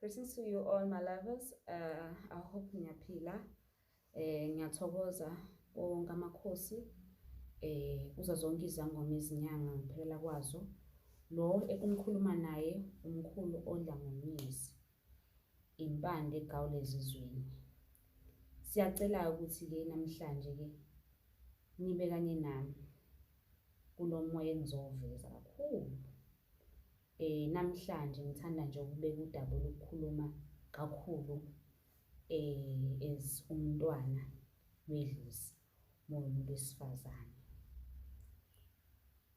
Greetings to you all my lovers. Uh, I hope ngiyaphila. Eh ngiyathokoza wonke amakhosi eh uza zonke izangoma izinyanga ngiphelela kwazo. Lo ekumkhuluma naye umkhulu odla ngomnisi. impande egawula ezizweni. Siyacela-ke ukuthi-ke namhlanje-ke nibe kanye nami kulo moya engizowuveza kakhulu. Eh namhlanje ngithanda nje ukubeka udaba olukhuluma kakhulu eh as umntwana wedlozi momuntu wesifazane.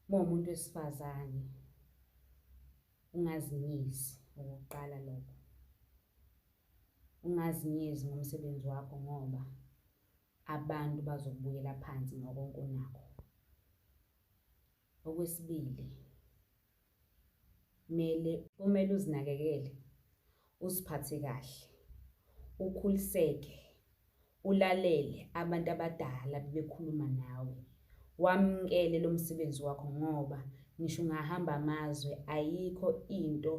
Momuntu wesifazane Ungazinyezi okokuqala lokho. Ungazinyezi ngomsebenzi wakho ngoba abantu bazokubukela phansi ngokonke onakho. Okwesibili, mele kumele uzinakekele Uziphathe kahle, ukhuliseke, ulalele abantu abadala bebekhuluma nawe. Wamukele lo msebenzi wakho ngoba ngisho ungahamba amazwe ayikho into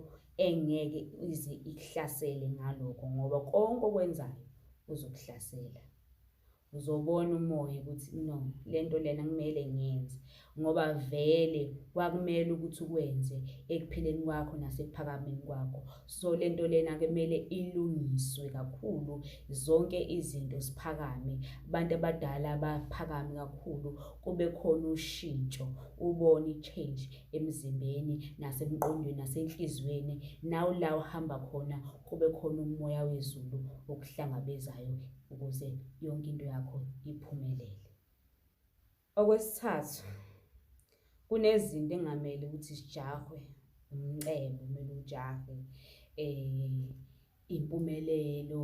engeke ize ikuhlasele ngalokho ngoba konke okwenzayo uzokuhlasela. uzobona umoya ukuthi no le nto lena kumele ngiyenze ngoba vele kwakumele ukuthi ukwenze ekuphileni kwakho nasekuphakameni kwakho so le nto lena kumele ilungiswe kakhulu zonke izinto siphakame abantu abadala baphakame kakhulu kube khona ushintsho ubone i-change emzimbeni nasemqondweni nasenhliziyweni nawu la uhamba khona kube khona umoya wezulu okuhlangabezayo ukuze yonke into yakho iphumelele. Okwesithathu kunezinto engamele ukuthi zijahwe umcebo kumele ujahwe um impumelelo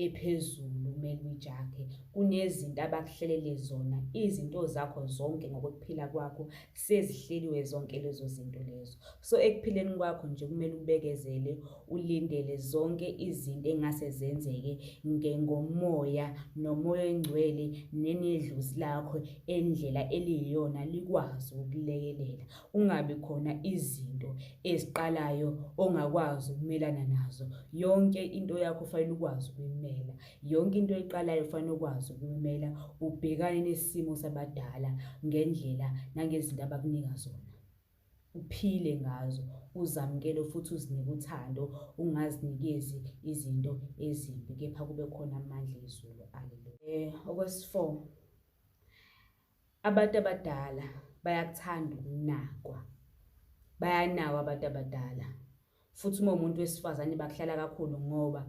ephezulu kumele uyijahe kunezinto abakuhlelele zona izinto zakho zonke ngokuphila kwakho sezihleliwe zonke lezo zinto lezo so ekuphileni kwakho nje kumele ubekezele ulindele zonke izinto engase zenzeke ngengomoya nomoya engcwele nenedluzi lakho endlela eliyiyona likwazi ukulekelela ungabi khona izinto eziqalayo ongakwazi ukumelana nazo yonke into yakho fanele ukwazi ukuyimela Yonke into oyiqalayo ufanele ukwazi ukumela ubhekane nesimo sabadala ngendlela nangezinto abakunika zona. Uphile ngazo, uzamukele futhi uzinike uthando, ungazinikezi izinto ezimbi kepha kube khona amandla ezulu. Haleluya. Eh, okwesi-four, abantu abadala bayakuthanda ukunakwa. Bayanawa abantu abadala. futhi uma umuntu wesifazane bakuhlala kakhulu ngoba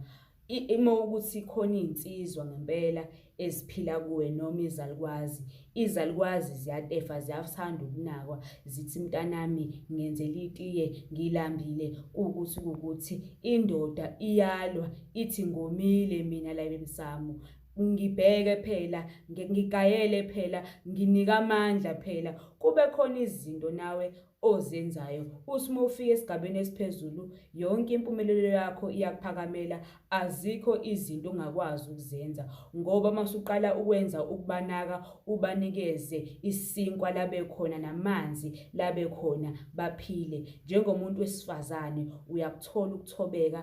uma ukuthi khona iy'nsizwa ngempela eziphila kuwe noma izalukwazi izalukwazi ziyatefa ziyathanda ukunakwa zithi mntanami ngenzela itiye ngilambile kuwukuthi kuwukuthi indoda iyalwa ithi ngomile mina la emsamo ngibheke phela ngigayele phela nginika amandla phela kube khona izinto nawe ozenzayo uthi uma ufika esigabeni esiphezulu yonke impumelelo yakho iyakuphakamela azikho izinto ongakwazi ukuzenza ngoba masuqala ukwenza ukubanaka ubanikeze isinkwa labe khona namanzi labe khona baphile njengomuntu wesifazane uyakuthola ukuthobeka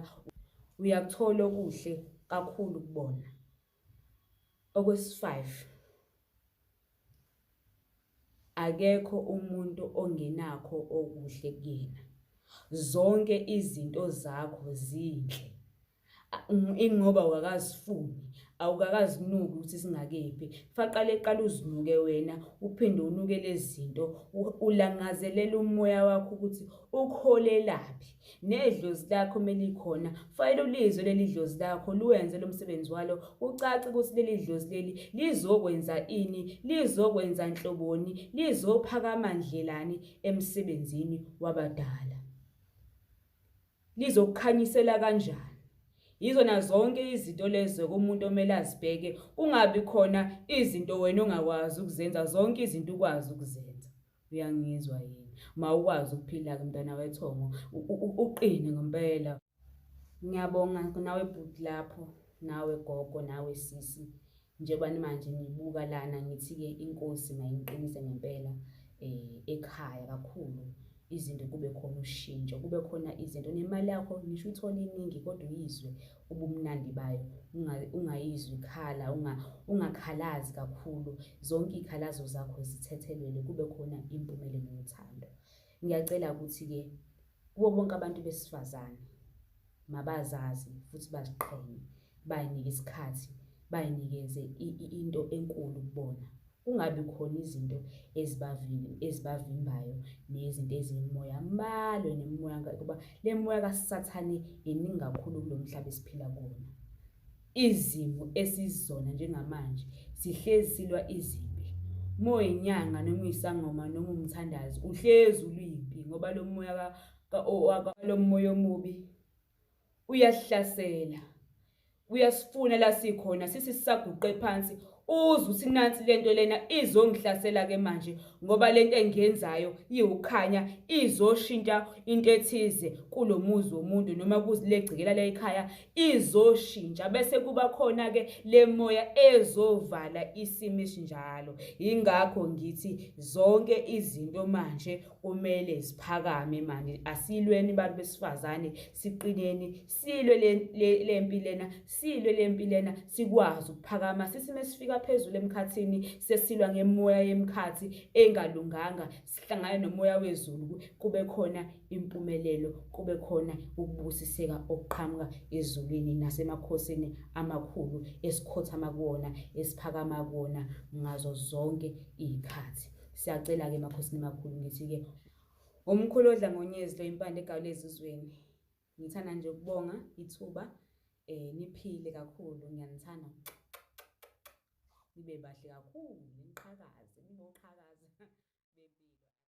uyakuthola okuhle kakhulu kubona Okwesi-five, akekho umuntu ongenakho okuhle kuyena. Zonke izinto zakho zinhle. Ingoba awukakazifuni, awukakazinuki ukuthi singakephi. Faqale qala uzinuke wena, uphinde unuke lezi zinto, ulangazelele umoya wakho ukuthi ukuholelaphi. Nedlozi lakho uma likhona, kufanele ulizwe leli dlozi lakho, luwenze lo msebenzi walo, kucace ukuthi leli dlozi leli lizokwenza ini, lizokwenza nhloboni, lizophakama ndlelani emsebenzini wabadala. Lizokukhanyisela kanjani? Yizona zonke izinto lezo kumuntu omele azibheke, kungabi khona izinto wena ongakwazi ukuzenza, zonke izinto ukwazi ukuzenza. uyangizwa yini mawukwazi ukuphila ke mntana wethongo uqine ngempela ngiyabonga nawe bhuti lapho nawe gogo nawe sisi njengoba nimanje ngibuka lana ngithi-ke inkosi mayingiqinise ngempela um ekhaya kakhulu izinto kube khona ushintsho kube khona izinto nemali yakho ngisho uthole iningi kodwa uyizwe ubumnandi bayo ungayizwi ikhala ungakhalazi kakhulu zonke iy'khalazo zakho zithethelele kube khona impumelelo yothando ngiyacela ukuthi-ke kubo bonke abantu besifazane mabazazi futhi baziqhenye bayinike isikhathi bayinikeze into enkulu kubona kungabi khona izinto ezibavimbayo nezinto eziyimoya balwe nemimoya kuba le moya kasathane iningi kakhulu kulo mhlaba esiphila kuwona izimo esizona njengamanje sihlezi silwa izimpi uma uyinyanga noma uyisangoma noma umthandazi uhlezi uluyimpi ngoba lo moya lo moya omubi uyasihlasela uyasifuna la sikhona sisi sisaguqe phansi uzwe ukuthi nansi lento lena izongihlasela ke manje ngoba lento engiyenzayo iwukhanya izoshintsha into ethize kulomuzi womuntu noma kuzilegcikela la ekhaya izoshintsha bese kuba khona ke lemoya ezovala isimo esinjalo ingakho ngithi zonke izinto manje kumele siphakame manje asilweni bantu besifazane siqineni silwe lempi lena silwe lempi lena sikwazi ukuphakama sisime sifika phezulu emkhathini sesilwa ngemoya yemkhathi engalunganga sihlangane nomoya wezulu kube khona impumelelo kube khona ukubusiseka okuqhamuka ezulwini nasemakhosini amakhulu esikhothama kuwona esiphakama kuwona ngazo zonke iy'khathi Siyacela-ke emakhosini makhulu ngithi-ke umkhulu odla ngonyezi lo impande egawula ezizweni. Ngithanda nje ukubonga ithuba eh niphile kakhulu ngiyanithanda. Nibe bahle kakhulu niqhakaze ninoqhakaza.